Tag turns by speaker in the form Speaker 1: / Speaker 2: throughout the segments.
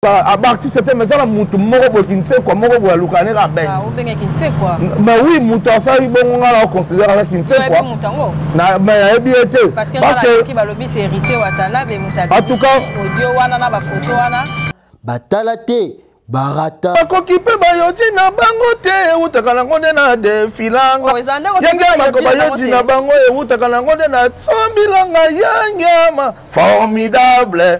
Speaker 1: abarti sete mais eza na motu moko boye kinsekwa moko boye aluka nde kaka bes ah,
Speaker 2: mais oui motu
Speaker 1: asali bongo ngai nao considere aza kinsekwa mais nayebi ye te parce
Speaker 2: que en tout
Speaker 1: cas
Speaker 2: batala te
Speaker 3: barata bakoki mpe bayoji
Speaker 1: na bango te ewutaka nango nde na defilanga oh, yange mako bayoji na bango ewutaka nango nde na sombilanga yangeama formidable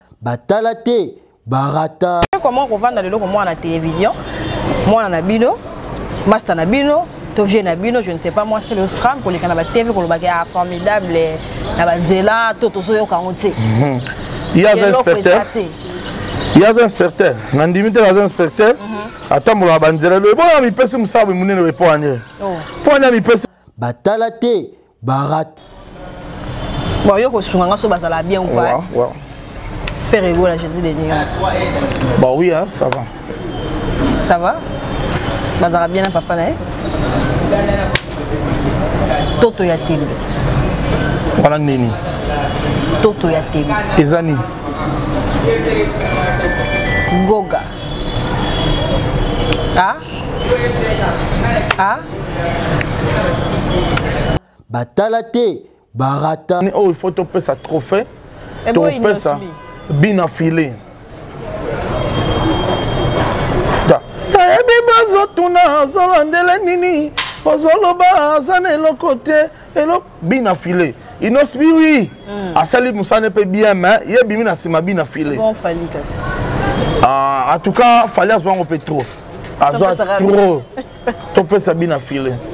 Speaker 1: batala te
Speaker 3: barata comment kovanda
Speaker 2: lelo komona na télévision mwana na bino masta na bino to vieux na bino je ne sais pas moi c'est le scram koleka na ba TV kolobaki ah formidable na ba nzela to tozoyoka yango te mhm. il y a
Speaker 1: inspecteur il y a inspecteur na ndimi te na inspecteur mhm. atambola ba nzela loye bona mipesi mosala monene oyo epo anye po anye mipesi batala te
Speaker 3: barat
Speaker 2: bon yo kosunga nga so bazala bien ou pas wow, wow.
Speaker 1: faire
Speaker 2: ego la jésus des nuances bah oui
Speaker 1: hein, ça va ça
Speaker 2: va bazala bien na papa na ye toto ya tembe
Speaker 1: wana nini toto
Speaker 2: ya tembe eza
Speaker 1: nini
Speaker 2: goga ah? ah?
Speaker 3: batala te barata oyo oh, il faut topesa
Speaker 1: trophée eh topesa
Speaker 2: bina file
Speaker 1: toyebi bazotuna azolandele nini ozoloba aza na eloko te eloko bina filet inos bi oui mm. asali musane pe bien mais ye bimi na sima bina filet bon fali
Speaker 2: kasi ah
Speaker 1: en tout cas fali azwa ngo pe trop azwa trop to pesa bina filet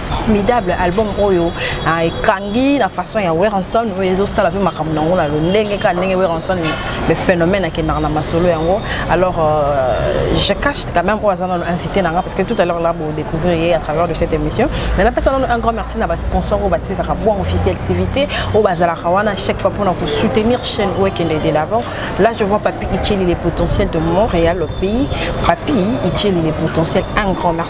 Speaker 2: formidable album oyo ah, ekangi na façon ya weranson oyo ezosala mpe makambo na yango na lolenge kaka ndenge weranson le phénomène akendaka na masolo yango alors euh, je cache quand même oyo aza nano invité na nga parce que tout à l'heure là bodécouvrir ye à travers de cette émission mais napesa nano un grand merci na basponsor oyo batikaka bwa officiel activité oyo bazalaka wana chaque fois mpona kosoutenir chaîne oyo ekende de l'avant là je vois papi icheli les potentiels de montréal le pays papi icheli les potentiels un grand merci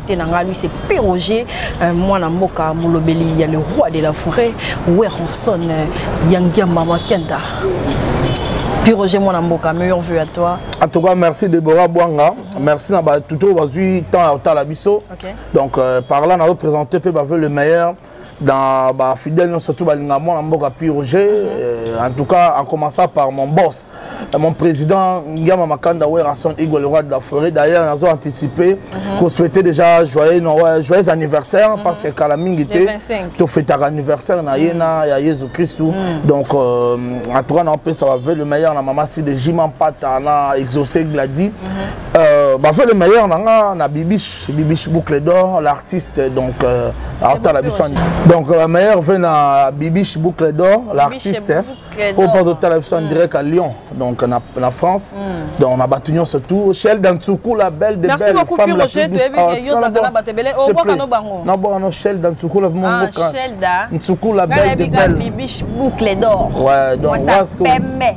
Speaker 2: te na ngai lui c'est Péroger euh, mwana mboka molobeli ya le roi de la forêt Weronson euh, Yangiamba Makenda puis Roger Mwana Mboka, meilleur vœu à toi. En tout cas, merci
Speaker 1: Deborah Bouanga. Merci à tout le monde, temps à Talabiso. Okay. Donc, euh, par là, on a représenté, on veut le meilleur. dans ba fidèle non surtout balinga mwana mboka pi roger euh, en tout cas en commençant par mon boss euh, mon président ngiama makanda werrason igwe le roi de la forêt d'ailleurs nazo anticiper mm -hmm. ko souhaiter déjà joyeux non, ouais, joyeux anniversaire mm -hmm. parce que kala mingi te to fetaka anniversaire na ye na ya yesu christu mm -hmm. donc euh, en tout cas na opesa ba le meilleur na mama si de jiman pata na exaucé gladi mm -hmm. Euh, baza le meilleur na nga na bibiche bibiche boucle d'or l'artiste donc euh, atala biso donc la euh, meilleure ve na bibiche boucle d'or l'artiste oyo mpo azotala biso en mm. direct à lyon donc na, na france mm. donc na bato nyonso tout shel dantsuku la belle de belle femme la plus doucenaboano shel dantsuku la momoka ntsuku la belle de belle
Speaker 2: ouais donc parce
Speaker 1: que ouais.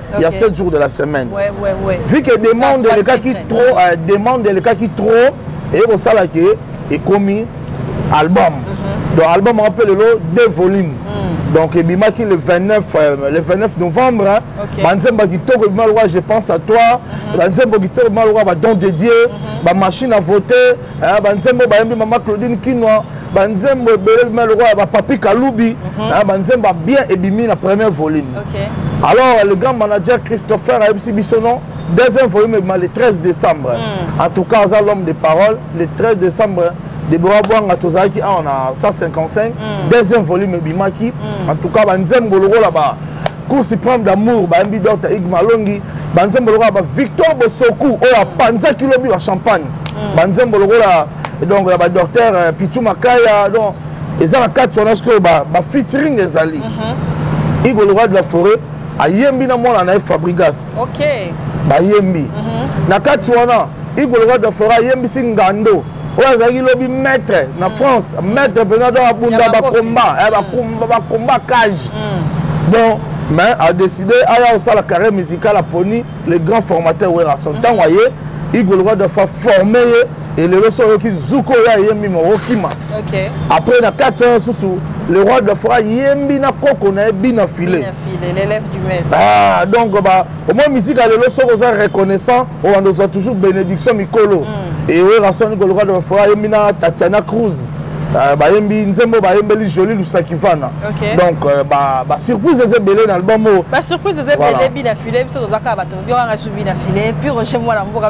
Speaker 1: il y a 7 jours de la semaine ouais, ouais, ouais. vu que demande elekaki trop euh, demande elekaki trop eye kosala ke ekomi album mm -hmm. donc album yango mpe lelo deux volumes mm. donc ebimaki le 29 euh, le 29 novembre okay. banzembo ya kitoko ebima lokola je pense à toi mm -hmm. banzembo kitoko ebima lokola badon de dieu mm -hmm. bamachine à voter eh, banzembo bayembi mama claudine kinwa banzembo ebele bima lokola bapapi kalubi mhm. eh, banzembo ya bien ebimi na premier volume alors le grand manager christopher ayebisi biso non deuxième volume ebima le 13 décembre hmm. en tout cas aza l'homme de parole le 13 décembre debora bwanga tozalaki awa na 155 hmm. deuxième volume ebimaki hmm. en tout cas banzembo lokola ba cour supreme d'amour bayembi dr ig malongi banzembo lokola ba victor bosoku oyo apanzaki lobi ba champagne mm. banzembo lokola donc ya ba docteur euh, pichu makaya donc eza na kati wana sikoyo ba featuring ezali mhm. igo le roi de la forêt ayembi na mwana na ye fabrigas bayembi mhm. na kati wana igo le roi de la forêt ayembisi ngando oyo azalaki lobi maître na mm. france maître mpenza donc abunda bacombat eh, mm. bacombat cage mm. donc mais adécide aya kosala carrière musicale aponi le grand formateur werason ntango aye igoloka dafa forme ye elelo so oyoki zuko oyo ayembi mokokima après na kati wana susu le roi de fora yembi na koko na ye bina filet
Speaker 2: ah, donc ba
Speaker 1: au moins musique ya lelo soki oza reconnaissant obanda ozwa toujours bénédiction mikolo mm. ewerasoni koloka de bafora ayembi na tatiana cruz euh, bayembi nzembo bayembeli joli lusakivana donc euh, basurprise eza ebele na album oyo basurprise eza ebele
Speaker 2: bina file biso tozaka bato biokanga su bina file puis roger mwana mboka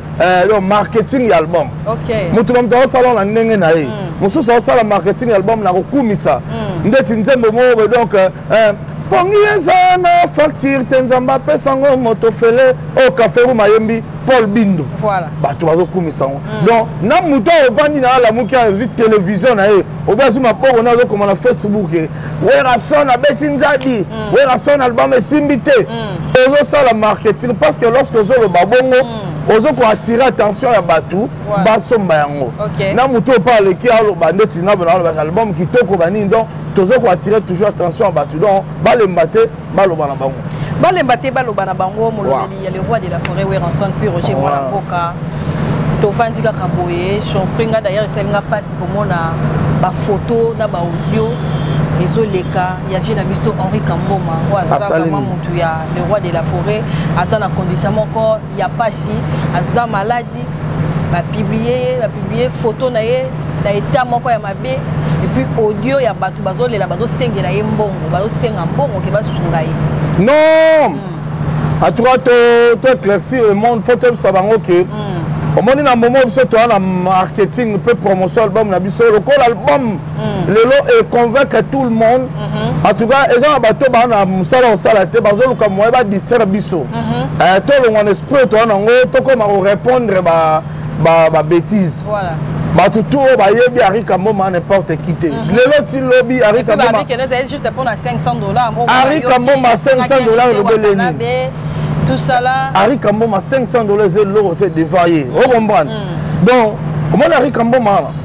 Speaker 1: Eh, yo marketing ya album moto na moto aosala na ndenge na ye mm. mosusu aosala marketing ya album na kokumisa mm. ndeti nzembo moko boye donc eh, eh, pongi eza na facture te nzambe apesango moto fele oyo oh, kaferum ayembi paul bindo bato bazokumisa yango mm. donc na moto oyo ovandi na alamuki azwi televizio na ye obi azwi mapoko na azokoma na facebook Werrason abeti nzadi mm. Werrason album esimbi te mm. ozosala marketing parce que lorsque ozoloba bongo mm. ozo ko attirer attention ya bato basomba yango na moto oyo mpe aleki aloba ndeti nabo na aloba album kitoko banini donc tozo ko attirer toujours attention ya bato donc balemba te baloba na bango balemba te baloba
Speaker 2: na bango molobeli ya le roi de la forêt weranson puis roger mwana mboka tovandi kaka boye surpris nga d'ailleurs esali nga mpasi komona bafoto na baaudio ezoleka ya vie na biso henri kamboma oyo aza vraiment motu ya le roi de la forêt aza na condition moko ya mpasi aza maladi bapiblie ye bapiblie foto na ye na etat moko ya mabe epuis audio ya bato bazolela bazosengela ye mbongo bazosenga mbongo ke basunga ye non hmm.
Speaker 1: en tout cas to éclairci le monde mpo toyebisa bango ke hmm. omoni na momo biso toya na marketing mpe promotion album na biso lokola album mm. lelo e convaincre tout le monde mm -hmm. en tout cas eza na bato baa na mosala kosala te bazoluka moye badistraire biso mm -hmm. eh, tolongwa na esprit toa nango tokoma korépondre babétise ba, ba voilà. bato
Speaker 2: tu oyo
Speaker 1: bayebi arika mboma n'importe qui te mhm. lelo ti lobi arika mboma
Speaker 2: arika
Speaker 1: mboma 500 dollars elobele nini
Speaker 2: arika mboma 500
Speaker 1: dollars eloko te devant ye okomprendre donc omona arika mboma wana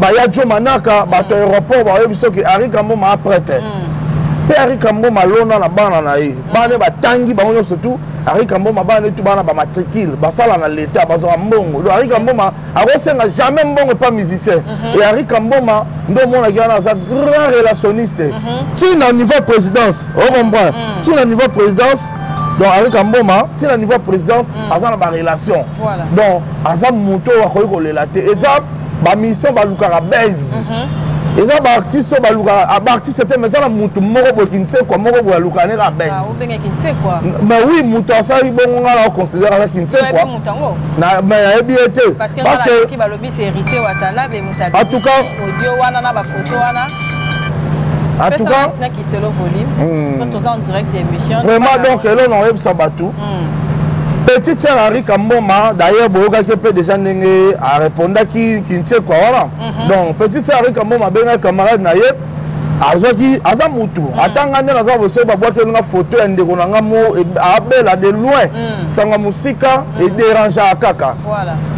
Speaker 1: baya jo manaka bato ya aéroport bayebi soki ari kamboma aprete mpe mm. ari kamboma alona na bana na ye mm. bana batangi bango nyonso tu ari kamboma bana netu bana bamatricule basala na leta bazwaka mbongo do ari kamboma akosenga jamais mbongo epa musicien mm-hmm. e ari kamboma nde omonaki wana aza grand relationniste mm-hmm. ti na niveau présidence ocomprendre mm. ti na niveau présidence donc henri kamboma ti na niveau ya présidence mm. aza na barelation voilà. donc aza moto oyo akoki kolela te eza ba mission ba lukaka buzz mm -hmm. eza ba artiste oyo ba lukaka ah, ba artiste te mais eza na mutu moko boye kinsekwa moko boye alukaka ne ka buzz ah,
Speaker 2: mais oui mutu
Speaker 1: asali bongo ngai na considère aza kinsekwa na mais nayebi ye te parce que
Speaker 2: balobi c'est héritier watanabe mutu en tout cas audio
Speaker 1: wana na ba
Speaker 2: photo wana
Speaker 1: en tout cas na kitelo
Speaker 2: volume hmm. quand on est en direct c'est émission vraiment donc elona
Speaker 1: oyebisa bato petit sœur Henri Kamboma d'ailleurs boyokaki mpe déjà ndenge arépondaki kinsekwa wana mhm. donc petit sœur Henri Kamboma abengaki camarade na ye azwaki aza mutu mhm. ata ngai nde naza boso babwakeli nga foto ya ndeko na ngai mo e, abela de loin mhm. sanga mosika ederangeaka kaka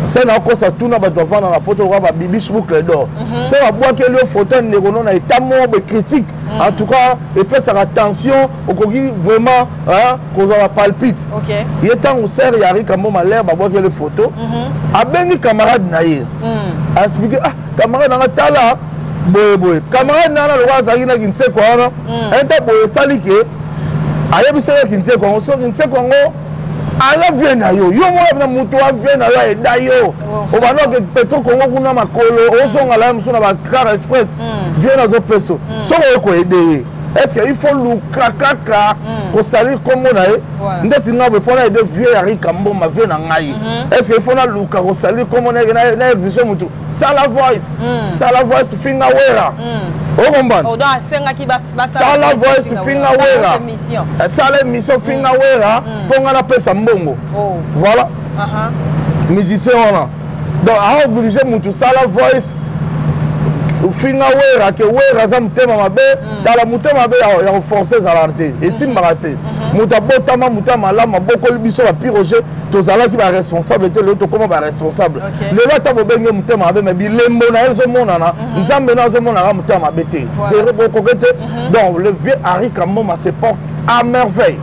Speaker 1: se
Speaker 2: nakosa
Speaker 1: tuna bato bafanda na poto lokola babibis boucle d'or se babwakeli yo foto ya ndeko no na etat moko bekritique en tout cas epesaka tension okoki vraiment Hein? kozwa bapalpite okay. ye ntango
Speaker 2: ser
Speaker 1: ya rika mboma lere babwakele foto mm -hmm. abengi camarade na ye mm. aexplike ah camarade nanga tala boye boye camarade nanga lokola azalaki na kinseko wana mm. enta boye esali ke ayebisaka kinseko yango soko kinseko yango aza vie na yo yo moko na moto wa vie na yo aeda yo oh. obanda oke petro kongo kuna makolo ozongala ye mosusu na bakara express mm. vie nazopeso mm. soko okoede ye est ce que il faut luka kaka hmm. kosali nkombo na ye ndeti ngai boye mpo na yede vieux ya rika mboma vieux na ngai hmm. est ce que il faut naluka kosali nkombo na ye na exige motu sala voice hmm. sala voice finga wera okombana
Speaker 2: sala voice
Speaker 1: finga wera sala émission finga wera mpo ngai napesa mbongo oh. voilà uh-huh. musicien wana donc aoblige mutu sala voice ofinga wera ke wera aza motema mabe mm. tala motema mabe ya koforce ezalaka te mm-hmm. esimbaka te mm-hmm. moto abotama moto ya malamu abokoli biso bapiroge tozalaki baresponsable te lelo tokóma baresponsable lelo ata bobenge motema mabe me bilembo na ye ezomonana mm-hmm. nzambe na azomonaka motema mabe te zero bokoke te donc le vieux harry kamboma se porte à merveille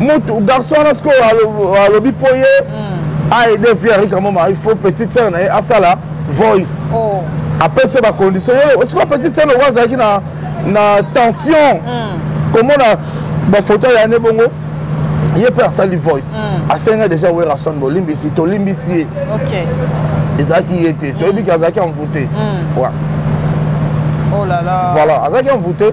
Speaker 1: mutu garçon wana sikoyo alobi mpo ye hmm. aide vie arika moma il faut petite sœur na ye asala voice oh. apesa bacondition yo sikoyo petite sœur noko azalaki na na tension hmm. komona bafoto ya ne bongo ye mpe asali voice hmm. asenga deja werason bolimbisi tolimbisi ye
Speaker 2: ezalaki ye
Speaker 1: te toyebi ke azalaki envoute
Speaker 2: oh voilà azalaki envoute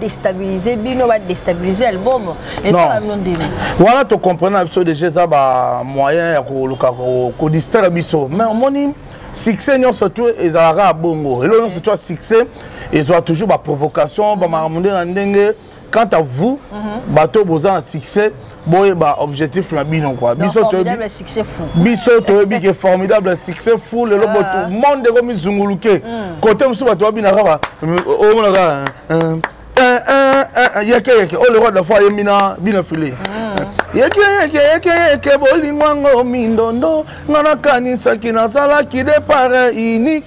Speaker 2: destabiliser bino ba destabiliser album esala bino ndimi wana to comprendre
Speaker 1: na biso déjà eza ba moyen ya koluka ko distraire biso mais omoni succès nyonso tu ezalaka ya bongo eloko nyonso tu ya succès ezwa toujours baprovocation bamakambo nde na ndenge quant à vous mhm. bato boza na succès boyeba objectif na bino kua
Speaker 2: biso toyebi ke
Speaker 1: formidable succès fou lelo botu ah. monde ekomizunguluke kote hmm. mosusu bato babina kaka omona kaka yeke yeke oyo leroy de la foi ayembi na bino filet yeke yeke yeke yeke bolingo yango mindondo nga nakanisaki nazalaki depart unique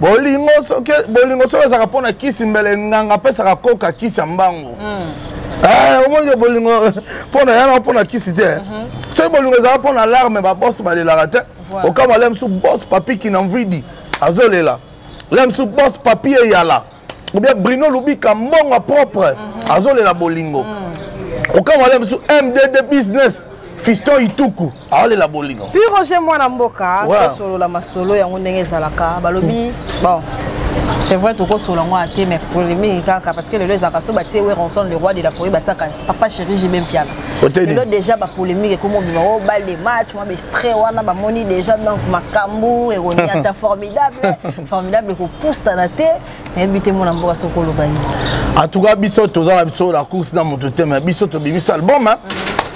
Speaker 1: bolingo soki bolingo soki ezalaka mpo na kisi mbele nganga apesaka koka kisi ya mbangu hmm. eh, omoni bolingo mpo na yana mpo na kisi te mhm. soki bolingo ezalaka mpo na larme babos balelaka te okama le mosusu bos papiki na mvidi azolela le mosusu bos papi eyala ou bien bruno lubika mbongo propre mhm. azolela bolingo mhm. okanga wale bisu mdd business fiston ituku aolela bolingo puis roger mwana
Speaker 2: mboka tosolola masolo yango ndenge ezalaka balobi bon c'est vrai tokosola yango ate mais polémique kaka parce que lelo ezalaka so batie weronson le roi de la forêt batiaka papa chéri jibe mpiaka lelo déjà bapolémique ekomi obima o oh, bal de match mwa bestrait wana bamoni déjà donc makambo eroni ata formidable formidable kopusana te nayebi te mwana mboka soki oloba nini en tout cas biso
Speaker 1: toza na biso na course na moto te me biso tobimisa album hein?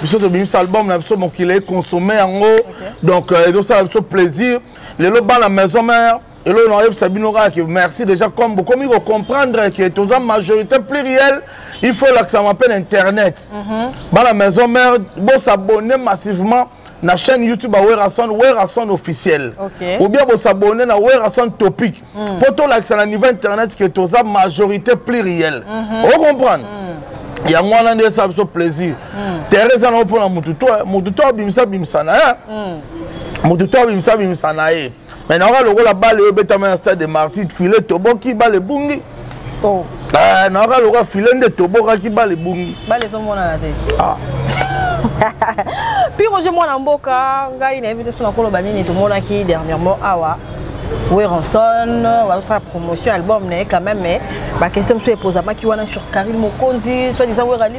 Speaker 1: biso tobimisa album na biso mokili econsomme yango donc euh, ezosala biso plaisir lelo bana maison mère eloko nakoyebisa bino kaka ke merci déjà comme bokomi kocomprendre ke toza majorité plurielle il faut elakisama mpe na internet mhm. bana maison mère bosabonne massivement na chaîne youtube ya werrason werrason officiel okay. ou bien bosabone na werrason topic mpo hmm. mm. tolakisa na niveau internet ke toza majorité plurielle mm -hmm. ocomprendre mm. yango wana nde esala biso plaisir mm. terre eza nango mpo na motu to motu to abimisa bimisa na ye mm. motu to abimisa bimisa na ye mais naoka lokola bale oyo ebetama na stade de martyr file toboki bale ebungi oh. eh, naoka lokola file nde tobokaki bale ebungi bale ezomonana te
Speaker 2: ah. pire oje mwana mboka ngai nayebi te so nakoloba nini tomonaki dernièrement awa weronson bazosala promotion album na ye quand même mais baquestion mosusu epozamaki wana sur carine mokonzi soit disant werali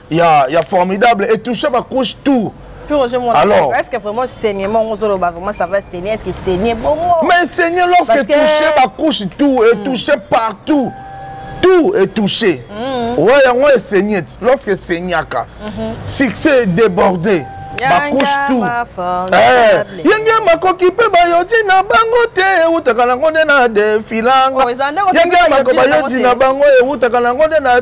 Speaker 1: ya ya formidable et touche ba couche tout Alors,
Speaker 2: est-ce que vraiment saignement on zolo vraiment ça va saigner est-ce que saigner bon Mais saigner lorsque
Speaker 1: que... touché ba couche tout et mm. touché partout. Tout est touché. Mm. Ouais, on est saigné lorsque saignaka. Mm -hmm. Succès débordé. bakouche tout eh, yenge makoki mpe bayoti na bango te ewutaka nango nde na defilanga oh, yenge mako bayoti na bango ewutaka nango nde na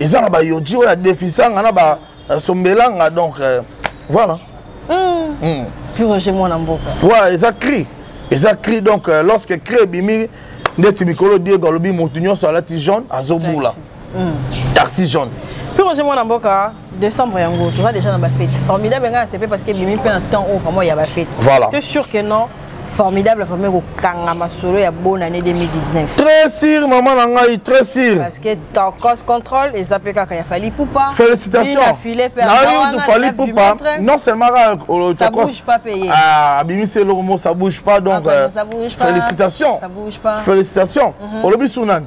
Speaker 1: eza na bayoji oyo adefisanga na basombelanga euh, donc euh, voilà hmm. Hmm.
Speaker 2: piroge
Speaker 1: mwana mboka wa
Speaker 2: eza
Speaker 1: cri eza
Speaker 2: cri
Speaker 1: donc euh, lorsque cri
Speaker 2: ebimi
Speaker 1: ndeti mikolo diego alobi motu nyonso alati jaune azobula taxi hmm. jaune piroge mwana mboka
Speaker 2: décembre yango toza déjà na bafete formidable ngai nasepe parce que ebimi mpe na temps oyo vraiment ya bafete voilà te sûr que non formidable famille kokanga masolo ya bonne année 2019 très sûr maman
Speaker 1: na ngai très sûr parce que tokos
Speaker 2: contrôle eza mpe kaka ya fali pupa félicitationfali
Speaker 1: pupa non seulement
Speaker 2: abimisi eloko
Speaker 1: mo ça bouge pas donc euh, félicitations
Speaker 2: félicitations mhm. olobi
Speaker 1: su nani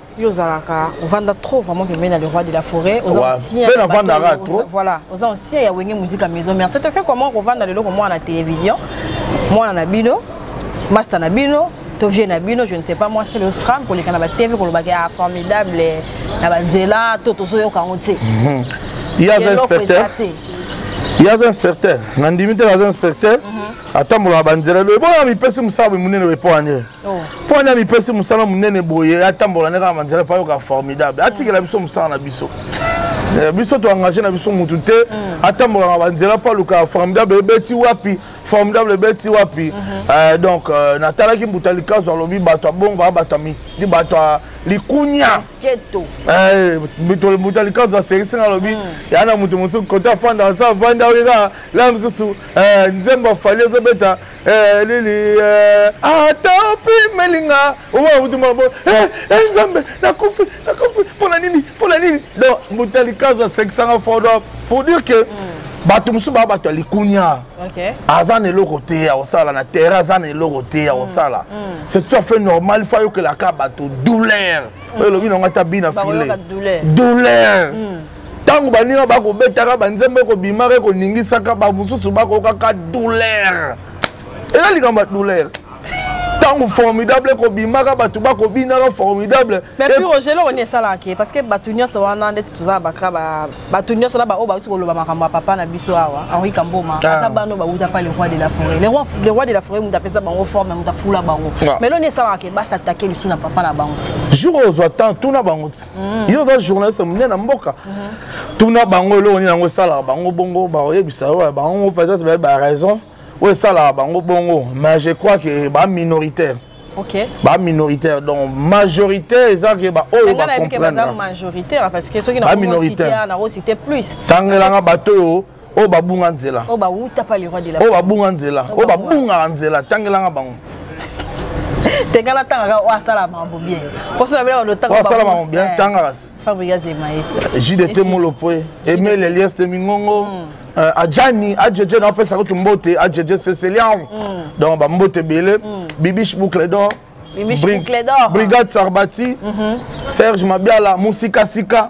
Speaker 2: yo ozalaka ovanda trop vraiment pembeni na le roi de la forêt oza ancien pe navandaka trop voilà oza ancien ya wenge musique ya maison mère ça te fait comment kovanda lelo komona na télévision mwana na bino masta na bino to vieux na bino je ne sais pas moi c'est le scram koleka na ba tv kolobaka ya ah, formidable na banzela to tozoyoka yango te mhm. yaza
Speaker 1: inspecteur yaza inspecteur nandimi te naza inspecteur mhm. atambola na banzela loye bona mipesi mosala boye monene boye mpo anie oh. mpo wana mipesi mosala monene boye atambola nde kaka manzela mpo ayoka formidable atikela biso mosala na biso eh, biso toengage na biso motu te mm. atambolaka banzela mpo alukaka formidable ebeti wapi formidable ebeti wapi mhm. eh, donc euh, natalaki mbuta likazu alobi bato abonga bato ya likunya eh, mbuta likazu aserisi nga alobi mm. ya na moto mosusu kote afanda asa avanda oyo kaka la mosusu eh, nzembo afali ezobeta elili eh, ata eh, opimelinga owautuma bo eh, nzambe nakufi nakufi mpona nini mpona nini donc mutalikazo asekisanga fodo pour dire que hmm. bato mosusu baa bato ya likunia aza
Speaker 2: na eloko te
Speaker 1: ya kosala na terre aza na eloko te ya hmm. kosala hmm. c'est tout à fait normal fo ayokelaka bato douleur oyo elobi nango ata bina file douleur ntango baninga bakobetaka banzembo ekobimaka ekoningisaka bamosusu bakokaka douleur eza likambo ya douleur ntango formidable ekobimaka bato bakobinaka formidable mairogeloo
Speaker 2: nini esalaka ke parce que bato nyonso wana ndeti toza na baka bato nyonso na baoyo bauti koloba makambo ya papa na biso awa henri kamboma ah. aza bano bauta pa le roi de la forêt le roi de la forêt moto apesa bango forme moto afula bango ah. mais loo nini esalaka ke basatake lisu na papa na bango jour ozwa temps
Speaker 1: tuna bango Mm. yo oza journaliste monene na mboka mm-hmm. tuna bango eloko nini yango esalaka bango bongo bakoyebisa yo bango peut-être baye baraison oyo esalaka bango bongo mais je crois que baminoritaire Okay. ba
Speaker 2: minoritaire
Speaker 1: donc majorité eza ke ba oyo ba comprendre
Speaker 2: ba minoritaire tangela nga bato
Speaker 1: oyo oyo babunga nzela oyo bawuta pa leroy
Speaker 2: de la oyo babunga nzela
Speaker 1: oyo babungaka nzela tangelanga bango
Speaker 2: tenga natangaka oyo asala mambo bien mposo na bino bandoasala mambo bien eh, tangaka
Speaker 1: fabrigas
Speaker 2: de maestro jdt molopoe
Speaker 1: emel elias de mingongo mm. eh, ajani ajeje na opesa kutu mbote ajeje cecilian mm. donc bambote ebele mm. bibish boucle d'or brigade sarbati mhm. serge mabiala musikasika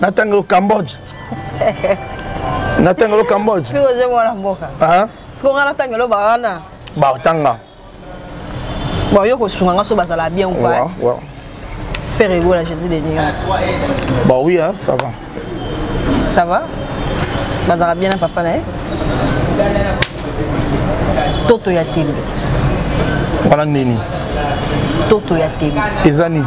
Speaker 1: natanga yo cambodge natanga yo cambodge piko je mwana mboka
Speaker 2: ah siko nga
Speaker 1: natanga yo
Speaker 2: bawana ba otanga bon yo kosunga nga so bazala bien ou pas ouais, ouais.
Speaker 1: faire
Speaker 2: ego la jésus des nuances bah oui
Speaker 1: hein, ça va ça
Speaker 2: va bazala bien na papa na ye toto ya tembe
Speaker 1: wana nini toto
Speaker 2: ya tembe eza nini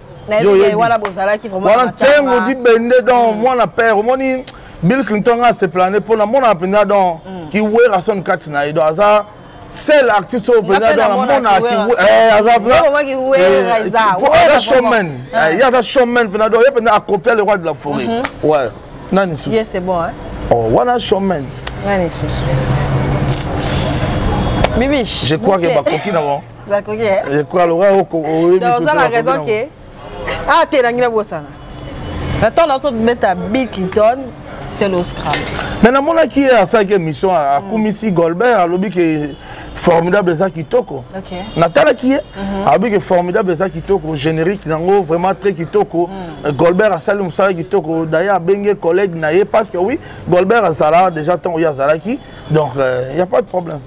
Speaker 2: wana ntengo di bende
Speaker 1: donc mm. mwana père omoni bill clinton nga aseplane mpo namonaka mpenza donc mm. kiwera son kati na ye donc aza seul artiste oyo mpenza donc namonaka eh, aza showman eh, ye aza showman mpenza donc ye mpenza acopia le roi de la forêt mhm. ouais nani
Speaker 2: susu oh, wana showman
Speaker 1: nani susu
Speaker 2: bibiche je crois que
Speaker 1: bakoki na bango bakoki
Speaker 2: ekwa loka
Speaker 1: oyebisoza na raison ke
Speaker 2: ah te nangi nabosana na ntango na tobeta bill clinton seloscram me namonaki ye
Speaker 1: asalaki émission akumisi golbert alobi ke formidable eza kitoko natalaki ye mhm. alobi ke formidable eza kitoko générique nango vraiment très kitoko mhm. golbert asali mosala kitoko daye abenge collègue na ye parce que oui golbert azala déjà ntango ye azalaki donc il euh, n'y a pas de problème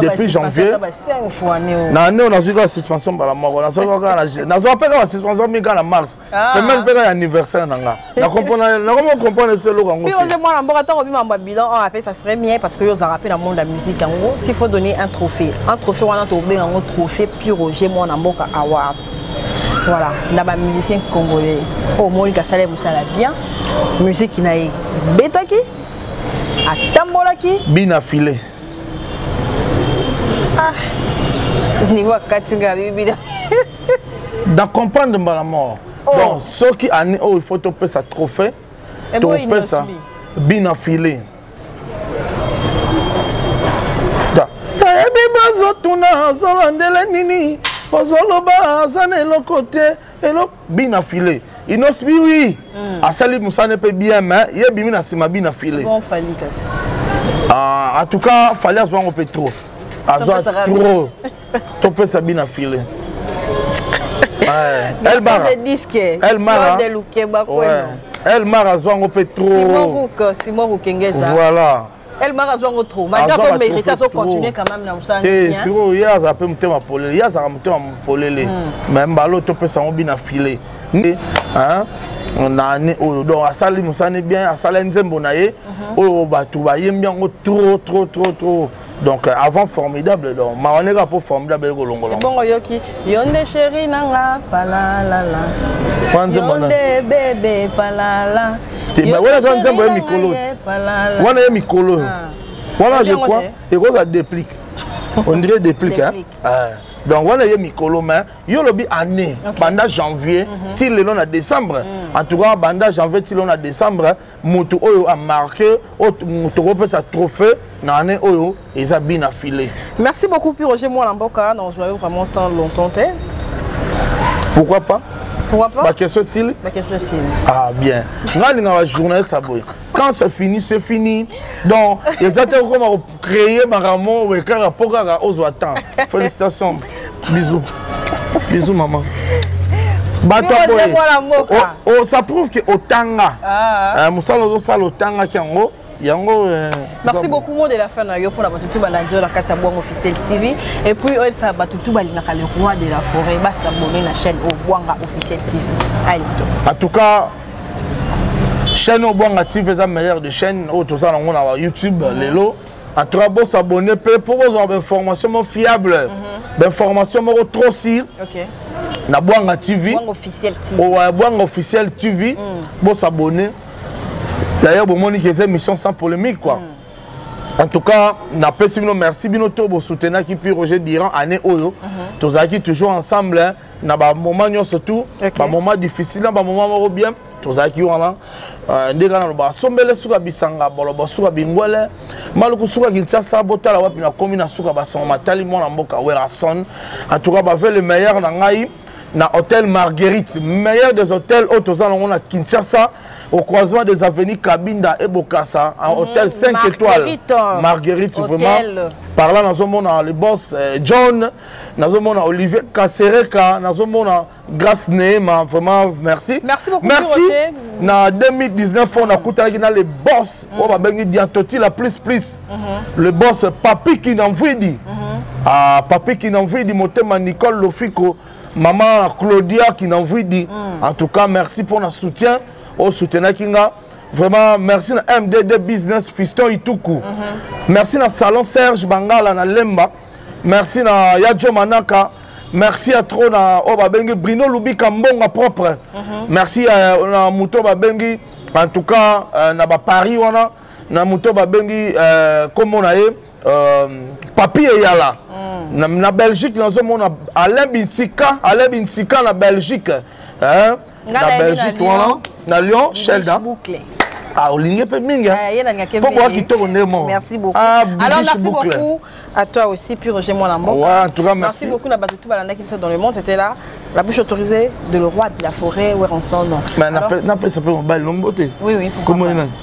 Speaker 1: depuis janvier na année oyo nazwi kaka suspension mbala moko nazwa mpe kaka suspension mi kaka na mars pemene mpe kaka ya anniversaire na nga nakomi comprendre ese eloko yango oza mwana mboka ntango obima mba bilan oyo ape
Speaker 2: ça serait bien parce que yo ozalaka mpe na monde ya musique yango s'il faut donner un trophée un trophée wana tokobenga yango trophée plus roger mwana mboka award voilà na bamusicien congolais oyo monika asala mosala bien musiki na ye ebetaki atambolaki bina
Speaker 1: filet ah niveau akati nga bibila dans comprendre mbala mort oh. donc soki année oyo oh, il faut topesa trophée eh topesa bina filet nayebi bazotuna azobandela nini ozoloba aza na eloko te eloko bina filet inos bi oui mm. asali musane pe bien mais ye bimi na sima bina filet bon fali kasi ah en tout cas fali azwa ngo pe trop azwa trop to pesa bina filet ouais elle bara elle mara de lukeba quoi elle mara azwa ngo pe trop simon rook simon rook ngeza
Speaker 2: voilà
Speaker 1: elmar
Speaker 2: azwa yango trop malgre azo mérite azo continuer quand même na mosala te sikoyo ye azala
Speaker 1: mpe motema polele ye azalaka motema polele hmm. mais mbalo topesa yango bina file nde na année oyo donc asali mosala ne bien asala nzembo na ye mhm. oyo bato bayembi yango trop trop trop trop donc euh, avant formidable donc mawaneka mpo formidable ekolongola ebongo yoki
Speaker 2: Yonde chérie nanga palalala. Yonde bébé palala. Te ba wana za
Speaker 1: nzembo ya mikolo. Wana ya mikolo. Ah. Wana je crois ekozala déplic. On dirait déplic hein. Ah. donc wana ye mikolo mais yo olobi année okay. banda janvier mm -hmm. ti lelo na décembre mm. en tout cas banda janvier ti lelo na décembre moto oyo amarke tokopesa trophée na année oyo eza bina filet merci beaucoup pi
Speaker 2: roger mwana mboka na ozwa yo vraiment temps longtemps te
Speaker 1: pourquoi pas pourquoi pas bakestion
Speaker 2: esili
Speaker 1: bakestion esili ah bien ngai alingaka journaliste aboye quand c'est fini c'est fini donc eza te okoma créer makambo oyo kaka mpo kaka ozwa temps félicitation bisous bisous maman bato aboye ça prouve que otanga ah. eh, mosala ozosala otangaki yango yango eh,
Speaker 2: merci beaucoup mot de la fin na yo mpona bato tu balandi yo na kati ya bwango officiel tv et puis oyebisa bato tu balingaka le roi de la forêt basabone na chaîne oyo bwanga officiel tv ayeto en tout cas
Speaker 1: chaîne oyo bwanga tv eza meilleur de chaîne oyo toza nango na youtube lelo en tout cas bosabonne mpe mpo bozwa bainformation moko fiable mhm. bainformation moko trop sire na bwanga tv owa bwanga officiel tv mm. bosabonne d'ailleurs bomoni ke eza émission sans polémique quoi mm. en tout cas napesi bino merci bino to bosutenaki puis roger diran année oyo mhm. tozalaki toujours ensemble na bamoma nyonso tu okay. bamoma difficile na bamoma moko bien tozalaki wana euh, nde kaka nalobaka sombele suka bisanga bolobo suka bingwele maluku suka kinshasa botala wapi nakomi na suka basango matali mwana mboka werason entouka bave le meilleur na ngai na hôtel marguerite meilleur des hôtels oyo toza nango na kinshasa au croisement des avenues kabinda et bokasa en mhm. hôtel 5 étoiles marguerite vraiment par là nazomona le boss euh, john nazomona olivier kasereka nazomona grace neema vraiment merci merci, beaucoup merci. na 2019 fo nakutanaki na le boss oyo mm. babengi diantoti la plus plus mm-hmm. le boss papi kinamvidi mm-hmm. ah, papi kinamvidi motema nicole lofiko mama claudia kinamvidi mm. en tout cas merci mpo na soutien oyo soutenaki nga vraiment merci na mdd business fiston ituku mm-hmm. merci na salon serge bangala na lemba merci na ya jo manaka merci ya trop na oyo babengi brino lubika mbonga propre mm -hmm. merci ya, na moto babengi en tout cas euh, na baparis wana na moto babengi euh, kombo na ye euh, papi eyala mm. na, na belgique nazomona alain binsika alain binsika na belgique hein? na belgique wana na lyon shelda Ah, olingi mpe mingi mpo boa
Speaker 2: kitoko nde mo merci beaucoup ah, alors merci beaucoup à toi aussi puis roger mwana mboka ouais, en tout cas merci, merci
Speaker 1: beaucoup na bato tout balandaki
Speaker 2: biso dans le monde c'était là la bouche autorisée de le roi de la forêt weronsono napesa mpe
Speaker 1: mobali nombote oui oui comment